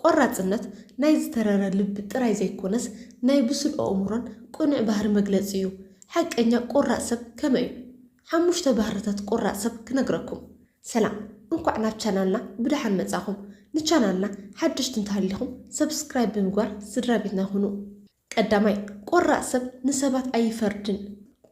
ቆራጽነት ናይ ዝተረረ ልቢ ጥራይ ዘይኮነስ ናይ ብሱል ኣእምሮን ቅኑዕ ባህሪ መግለጺ እዩ። ሓቀኛ ቆራጽ ሰብ ከመይ እዩ? ሓሙሽተ ባህርታት ቆራጽ ሰብ ክነግረኩም። ሰላም እንኳዕ ናብ ቻናልና ብደሓን መጻኹም ንቻናልና ሓደሽቲ እንተሃሊኹም subscribe ብምግባር ስድራቤትና ኩኑ። ቀዳማይ፣ ቆራጽ ሰብ ንሰባት ኣይፈርድን።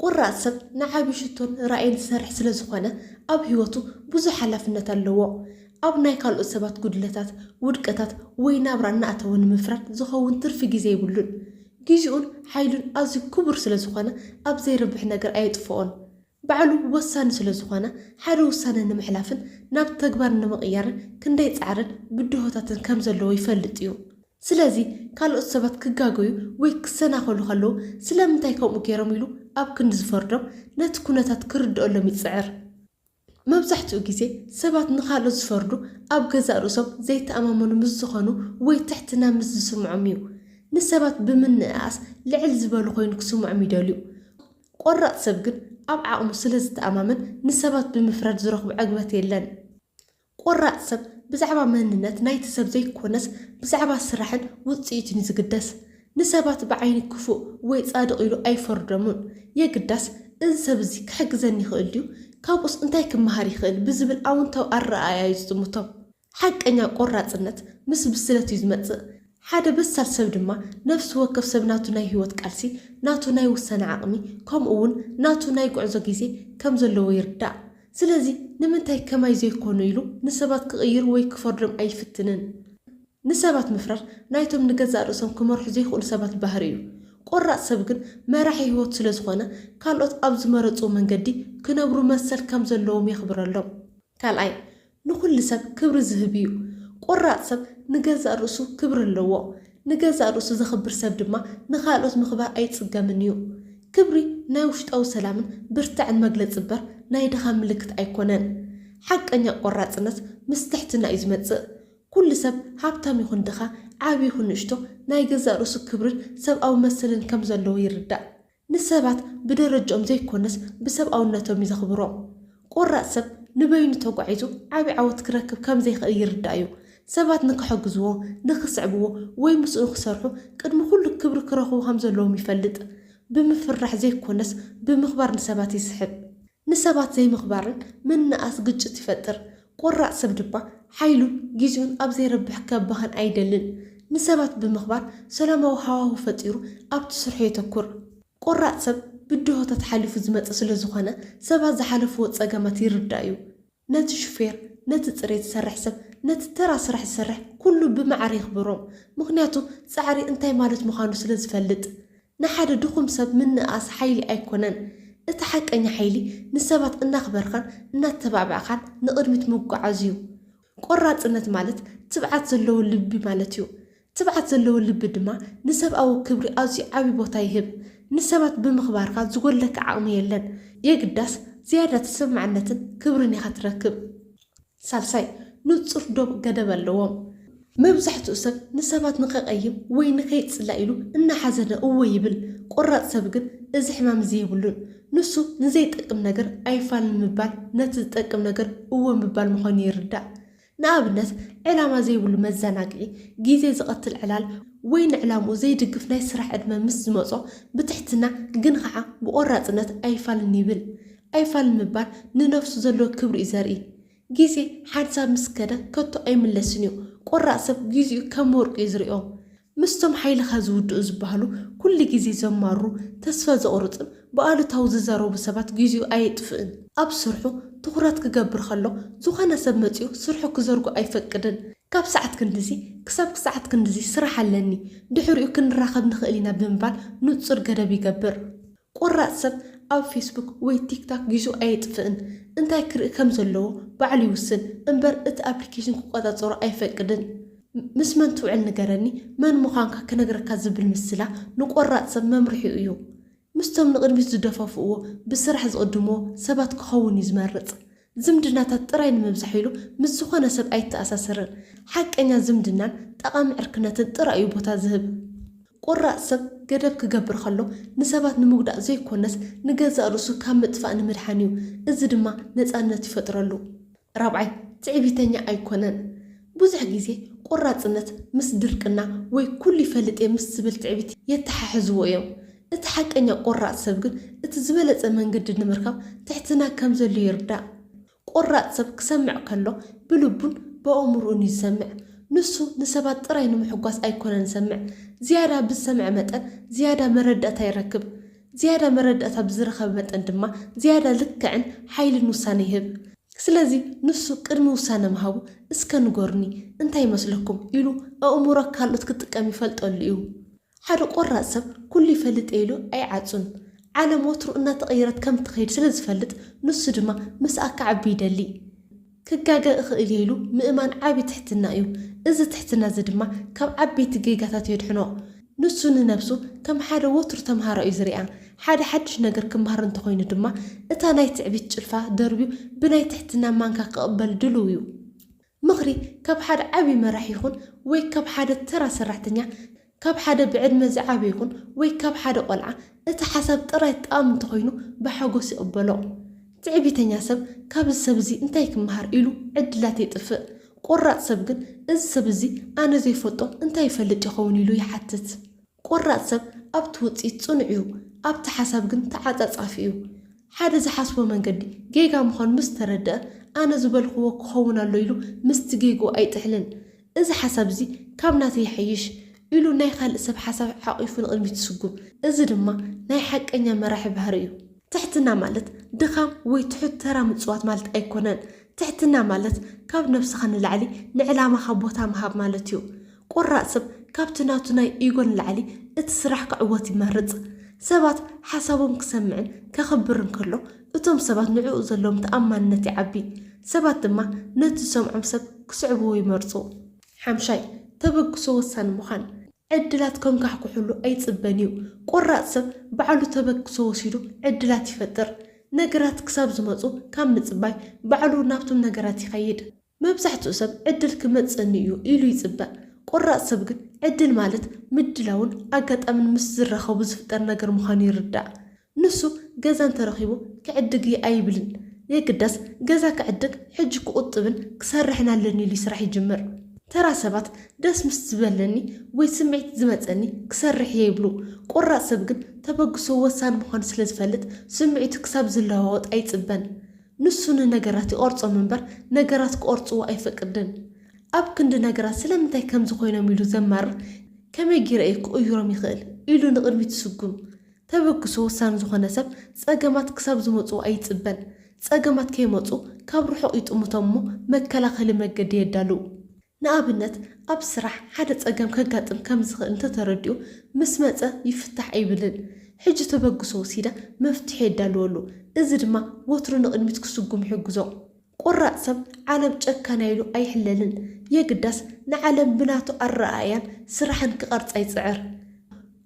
ቆራጽ ሰብ ንዓቢ ሽቶን ራእይን ዝሰርሕ ስለ ዝኾነ፣ ኣብ ህይወቱ ብዙሕ ሓላፍነት ኣለዎ። ኣብ ናይ ካልኦት ሰባት ጉድለታት፣ ውድቀታት ወይ ናብራ እናኣተወ ንምፍራድ ዝኸውን ትርፊ ግዜ የብሉን። ግዜኡን ሓይሉን ኣዝዩ ክቡር ስለ ዝኾነ ኣብ ዘይረብሕ ነገር ኣየጥፍኦን። ባዕሉ ወሳኒ ስለ ዝኾነ፣ ሓደ ውሳነ ንምሕላፍን ናብ ተግባር ንምቕያርን ክንደይ ጻዕርን ብድሆታትን ከም ዘለዎ ይፈልጥ እዩ። ስለዚ ካልኦት ሰባት ክጋገዩ ወይ ክሰናኸሉ ከለዉ ስለምንታይ ከምኡ ገይሮም ኢሉ ኣብ ክንዲ ዝፈርዶም ነቲ ኩነታት ክርድኦሎም ይጽዕር። መብዛሕትኡ ግዜ ሰባት ንኻልኦት ዝፈርዱ ኣብ ገዛእ ርእሶም ዘይተኣማመኑ ምስ ዝኾኑ ወይ ትሕትና ምስ ዝስምዖም እዩ። ንሰባት ብምንእኣስ ልዕል ዝበሉ ኮይኑ ክስምዖም ይደልዩ። ቆራጽ ሰብ ግን ኣብ ዓቕሙ ስለ ዝተኣማመን ንሰባት ብምፍራድ ዝረኽቦ ዕግበት የለን። ቆራጽ ሰብ ብዛዕባ መንነት ናይቲ ሰብ ዘይኮነስ ብዛዕባ ስራሕን ውጽኢቱን'ዩ ዝግደስ። ንሰባት ብዓይኒ ክፉእ ወይ ጻድቕ ኢሉ ኣይፈርዶምን። የግዳስ፣ እዚ ሰብ እዚ ክሕግዘኒ ይኽእል ድዩ? ካብኡስ እንታይ ክመሃር ይኽእል? ብዝብል ኣወንታዊ ኣረኣእያ'ዩ ዝጥምቶም። ሓቀኛ ቆራጽነት ምስ ብስለት'ዩ ዝመጽእ። ሓደ በሳል ሰብ ድማ ነፍሲ ወከፍ ሰብ ናቱ ናይ ህይወት ቃልሲ፣ ናቱ ናይ ውሳነ ዓቕሚ፣ ከምኡ ውን ናቱ ናይ ጉዕዞ ግዜ ከም ዘለዎ ይርዳእ። ስለዚ ንምንታይ ከማይ ዘይኮኑ ኢሉ ንሰባት ክቕይር ወይ ክፈርዶም ኣይፍትንን። ንሰባት ምፍራድ ናይቶም ንገዛእ ርእሶም ክመርሑ ዘይክእሉ ሰባት ባህሪ እዩ። ቆራጽ ሰብ ግን መራሒ ህይወቱ ስለ ዝኾነ ካልኦት ኣብ ዝመረጽዎ መንገዲ ክነብሩ መሰል ከም ዘለዎም የኽብረሎም። ካልኣይ፣ ንኹሉ ሰብ ክብሪ ዝህብ እዩ። ቆራጽ ሰብ ንገዛእ ርእሱ ክብሪ ኣለዎ። ንገዛእ ርእሱ ዘኽብር ሰብ ድማ ንኻልኦት ምኽባር ኣይጽገምን እዩ። ክብሪ ናይ ውሽጣዊ ሰላምን ብርታዐን መግለጺ እበር ናይ ድኻም ምልክት ኣይኮነን። ሓቀኛ ቆራጽነት ምስ ትሕትና እዩ ዝመጽእ። ኩሉ ሰብ ሃብታም ይኹን ድኻ፣ ዓቢ ይኹን ንእሽቶ ናይ ገዛእ ርእሱ ክብርን ሰብኣዊ መሰልን ከም ዘለዎ ይርዳእ። ንሰባት ብደረጅኦም ዘይኮነስ ብሰብኣውነቶም እዩ ዘኽብሮም። ቆራጽ ሰብ ንበይኑ ተጓዒዙ ዓቢ ዓወት ክረክብ ከም ዘይክእል ይርዳእ እዩ። ሰባት ንክሕግዝዎ፣ ንክስዕብዎ ወይ ምስኡ ንክሰርሑ ቅድሚ ኩሉ ክብሪ ክረኽቡ ከም ዘለዎም ይፈልጥ። ብምፍርራሕ ዘይኮነስ ብምኽባር ንሰባት ይስሕብ። ንሰባት ዘይምኽባርን ምንእኣስ ግጭት ይፈጥር። ቆራጽ ሰብ ድማ ሓይሉን ግዜኡን ኣብ ዘይረብሕ ከባኽን ኣይደልን። ንሰባት ብምኽባር ሰላማዊ ሃዋሁ ፈጢሩ ኣብቲ ስርሑ የተኩር። ቆራጽ ሰብ ብድሆታት ሓሊፉ ዝመጽእ ስለዝኾነ ሰባት ዝሓለፍዎ ጸገማት ይርዳእ'ዩ። ነቲ ሹፌር፣ ነቲ ጽሬት ዝሰርሕ ሰብ፣ ነቲ ተራ ስራሕ ዝሰርሕ ኩሉ ብማዕረ የኽብሮም። ምኽንያቱ ጻዕሪ እንታይ ማለት ምዃኑ ስለ ዝፈልጥ። ንሓደ ድኹም ሰብ ምንእኣስ ሓይሊ ኣይኮነን። እቲ ሓቀኛ ሓይሊ ንሰባት እናኽበርካን እናተባዕባዕካን ንቕድሚት ምጉዓዝ'ዩ። ቆራጽነት ማለት ትብዓት ዘለዎ ልቢ ማለት'ዩ። ትብዓት ዘለዎ ልቢ ድማ ንሰብኣዊ ክብሪ ኣዝዩ ዓቢ ቦታ ይህብ። ንሰባት ብምኽባርካ ዝጎድለካ ዓቕሚ የለን። የግዳስ፣ ዝያዳ ተሰማዕነትን ክብርን ኢኻ ትረክብ። ሳልሳይ፣ ንጹር ዶብ ገደብ ኣለዎም። መብዛሕትኡ ሰብ ንሰባት ንኸቀይም ወይ ንኸይጽላእ ኢሉ እናሓዘነ እወ ይብል። ቆራጽ ሰብ ግን እዚ ሕማም እዚ የብሉን። ንሱ ንዘይጠቅም ነገር ኣይፋልን ምባል ነቲ ዝጠቅም ነገር እወ ምባል ምዃኑ ይርዳእ። ንኣብነት ዕላማ ዘይብሉ መዘናግዒ፣ ግዜ ዝቐትል ዕላል፣ ወይ ንዕላምኡ ዘይድግፍ ናይ ስራሕ ዕድመ ምስ ዝመጾ ብትሕትና ግን ኸዓ ብቖራጽነት ኣይፋልን ይብል። ኣይፋልን ምባል ንነብሱ ዘለዎ ክብሪ እዩ ዘርኢ። ግዜ ሓንሳብ ምስ ከደ ከቶ ኣይምለስን እዩ። ቆራጽ ሰብ ግዜኡ ከም ወርቂ እዩ ዝሪኦ። ምስቶም ሓይልኻ ዝውድኡ ዝበሃሉ ኩሉ ግዜ ዘማርሩ፣ ተስፋ ዘቑርጹን ብኣሉታዊ ዝዛረቡ ሰባት ግዜኡ ኣየጥፍእን። ኣብ ስርሑ ትኹረት ክገብር ከሎ ዝኾነ ሰብ መጺኡ ስርሑ ክዘርጎ ኣይፈቅድን። ካብ ሰዓት ክንድዚ ክሳብ ክሰዓት ክንድዚ ስራሕ ኣለኒ፣ ድሕሪኡ ክንራኸብ ንኽእል ኢና ብምባል ንጹር ገደብ ይገብር። ቆራጽ ሰብ ኣብ ፌስቡክ ወይ ቲክታክ ጊዙ ኣየጥፍእን እንታይ ክርኢ ከም ዘለዎ ባዕሉ ይውስን እምበር እቲ ኣፕሊኬሽን ክቆጻጸሮ ኣይፈቅድን ምስ መን ትውዕል ንገረኒ መን ምዃንካ ክነግረካ ዝብል ምስላ ንቆራጽ ሰብ መምርሒኡ እዩ ምስቶም ንቕድሚት ዝደፋፍእዎ ብስራሕ ዝቕድምዎ ሰባት ክኸውን እዩ ዝመርጽ ዝምድናታት ጥራይ ንምብዛሕ ኢሉ ምስ ዝኾነ ሰብ ኣይተኣሳሰርን። ሓቀኛ ዝምድናን ጠቓሚ ዕርክነትን ጥራይ እዩ ቦታ ዝህብ። ቁራጽ ሰብ ገደብ ክገብር ከሎ ንሰባት ንምጉዳእ ዘይኮነስ ንገዛእ ርእሱ ካብ ምጥፋእ ንምድሓን እዩ። እዚ ድማ ነጻነት ይፈጥረሉ። ራብዓይ፣ ትዕቢተኛ ኣይኮነን። ብዙሕ ግዜ ቁራጽነት ምስ ድርቅና ወይ ኩሉ ይፈልጥ እየ ምስ ዝብል ትዕቢት የተሓሕዝዎ እዮም። እቲ ሓቀኛ ቆራጽ ሰብ ግን እቲ ዝበለጸ መንገዲ ንምርካብ ትሕትና ከም ዘድልዮ ይርዳእ። ቆራጽ ሰብ ክሰምዕ ከሎ ብልቡን ብኣእምሮኡን እዩ ዝሰምዕ። ንሱ ንሰባት ጥራይ ንምሕጓስ ኣይኰነን ዝሰምዕ። ዝያዳ ብዝሰምዐ መጠን ዝያዳ መረዳእታ ይረክብ። ዝያዳ መረዳእታ ብዝረኸበ መጠን ድማ ዝያዳ ልክዕን ሓይልን ውሳነ ይህብ። ስለዚ ንሱ ቅድሚ ውሳነ ምሃቡ እስከ ንገሩኒ እንታይ ይመስለኩም ኢሉ ኣእምሮ ካልኦት ክጥቀም ይፈልጠሉ እዩ። ሓደ ቆራጽ ሰብ ኩሉ ይፈልጥ'የ ኢሉ ኣይዓጹን። ዓለም ወትሩ እናተቐየረት ከም እትኸይድ ስለ ዝፈልጥ ንሱ ድማ ምስኣ ክዓቢ ይደሊ። ክጋገ እኽእል'የ ኢሉ ምእማን ዓቢ ትሕትና'ዩ። እዚ ትሕትና'ዚ ድማ ካብ ዓበይቲ ጌጋታት የድሕኖ። ንሱ ንነብሱ ከም ሓደ ወትሩ ተምሃራይ'ዩ ዝሪኣ። ሓደ ሓድሽ ነገር ክመሃር እንተኾይኑ ድማ እታ ናይ ትዕቢት ጭልፋ ደርብዩ ብናይ ትሕትና ማንካ ክቕበል ድሉው'ዩ። ምኽሪ ካብ ሓደ ዓቢ መራሒ ይኹን ወይ ካብ ሓደ ተራ ሰራሕተኛ፣ ካብ ሓደ ብዕድመ ዝዓበየ ይኹን ወይ ካብ ሓደ ቆልዓ፣ እቲ ሓሳብ ጥራይ ጠቓሚ እንተኾይኑ ብሓጎስ ይቕበሎ። ትዕቢተኛ ሰብ ካብዚ ሰብ እዚ እንታይ ክመሃር ኢሉ ዕድላት የጥፍእ። ቆራጽ ሰብ ግን እዚ ሰብ እዚ ኣነ ዘይፈልጦ እንታይ ይፈልጥ ይኸውን ኢሉ ይሓትት። ቆራጽ ሰብ ኣብቲ ውጽኢት ጽኑዕ እዩ፣ ኣብቲ ሓሳብ ግን ተዓጻጻፊ እዩ። ሓደ ዝሓስቦ መንገዲ ጌጋ ምዃኑ ምስ ተረድኣ፣ ኣነ ዝበልክዎ ክኸውን ኣሎ ኢሉ ምስቲ ጌግኡ ኣይጥሕልን። እዚ ሓሳብ እዚ ካብ ናተይ ይሓይሽ ኢሉ ናይ ካልእ ሰብ ሓሳብ ሓቚፉ ንቕድሚት ይስጉም። እዚ ድማ ናይ ሓቀኛ መራሒ ባህሪ እዩ። ትሕትና ማለት ድኻም ወይ ትሑት ተራ ምጽዋት ማለት ኣይኮነን። ትሕትና ማለት ካብ ነብስኻ ንላዕሊ ንዕላማኻ ቦታ ምሃብ ማለት እዩ። ቆራጽ ሰብ ካብቲ ናቱ ናይ ኢጎ ንላዕሊ እቲ ስራሕ ክዕወት ይመርጽ። ሰባት ሓሳቦም ክሰምዕን ከኽብርን ከሎ እቶም ሰባት ንዕኡ ዘለዎም ተኣማንነት ይዓቢ። ሰባት ድማ ነቲ ዝሰምዖም ሰብ ክስዕብዎ ይመርጹ። ሓምሻይ፣ ተበግሶ ወሳኒ ምዃን። ዕድላት ከንኳሕኩሕሉ ኣይጽበን እዩ። ቆራጽ ሰብ ባዕሉ ተበግሶ ወሲዱ ዕድላት ይፈጥር። ነገራት ክሳብ ዝመጹ ካብ ምጽባይ ባዕሉ ናብቶም ነገራት ይኸይድ። መብዛሕትኡ ሰብ ዕድል ክመጽእኒ እዩ ኢሉ ይጽበ። ቆራጽ ሰብ ግን ዕድል ማለት ምድላውን ኣጋጣምን ምስ ዝራኸቡ ዝፍጠር ነገር ምዃኑ ይርዳእ። ንሱ ገዛ እንተረኺቡ ክዕድግ እየ ኣይብልን። የግዳስ ገዛ ክዕድግ ሕጂ ክቑጥብን ክሰርሕን ኣለኒ ኢሉ ስራሕ ይጅምር። ተራ ሰባት ደስ ምስ ዝበለኒ ወይ ስምዒት ዝመጸኒ ክሰርሕ እየ ይብሉ። ቆራጽ ሰብ ግን ተበግሶ ወሳኒ ምዃኑ ስለ ዝፈልጥ ስምዒቱ ክሳብ ዝለዋወጥ ኣይጽበን። ንሱ ንነገራት ይቐርጾም እምበር ነገራት ክቐርጽዎ ኣይፈቅድን። ኣብ ክንዲ ነገራት ስለምንታይ ከምዚ ኮይኖም ኢሉ ዘማርር ከመይ ገይረ እየ ክቕይሮም ይኽእል ኢሉ ንቕድሚት ዝስጉም። ተበግሶ ወሳኒ ዝኾነ ሰብ ጸገማት ክሳብ ዝመጽዎ ኣይጽበን። ጸገማት ከይመጹ ካብ ርሑቕ ይጥምቶም እሞ መከላኸሊ መገዲ የዳልው። ንኣብነት ኣብ ስራሕ ሓደ ጸገም ከጋጥም ከም ዝኽእል እንተ ተረዲኡ፣ ምስ መጸ ይፍታሕ ኣይብልን። ሕጂ ተበግሶ ወሲደ መፍትሒ የዳልወሉ። እዚ ድማ ወትሩ ንቕድሚት ክስጉም ይሕግዞ። ቈራጽ ሰብ ዓለም ጨካን ኢሉ ኣይሕለልን። የግዳስ ንዓለም ብናቱ ኣረኣእያን ስራሕን ክቐርጻ ይጽዕር።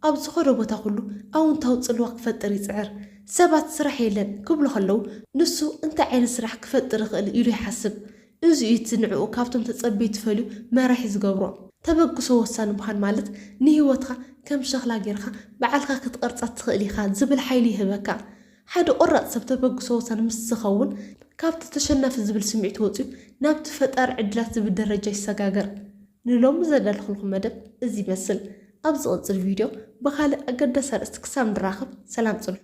ኣብ ዝኸዶ ቦታ ኩሉ ኣውንታዊ ጽልዋ ክፈጥር ይጽዕር። ሰባት ስራሕ የለን ክብሉ ከለዉ፣ ንሱ እንታይ ዓይነት ስራሕ ክፈጥር እኽእል ኢሉ ይሓስብ። እዚ እዩ እቲ ንዕኡ ካብቶም ተጸብዩ ትፈልዩ መራሒ ዝገብሮ። ተበግሶ ወሳኒ ምዃን ማለት ንህይወትካ ከም ሸኽላ ጌርካ ብዓልካ ክትቐርጻ ትኽእል ኢኻ ዝብል ሓይሊ ይህበካ። ሓደ ቆራጽ ሰብ ተበግሶ ወሳኒ ምስ ዝኸውን ካብቲ ተሸናፊ ዝብል ስምዒት ወጽዩ ናብቲ ፈጣሪ ዕድላት ዝብል ደረጃ ይሰጋገር። ንሎሚ ዘዳለኹልኩም መደብ እዚ ይመስል። ኣብ ዝቕጽል ቪድዮ ብኻልእ ኣገዳሲ ኣርእስቲ ክሳብ ንራኸብ ሰላም ጽንሑ።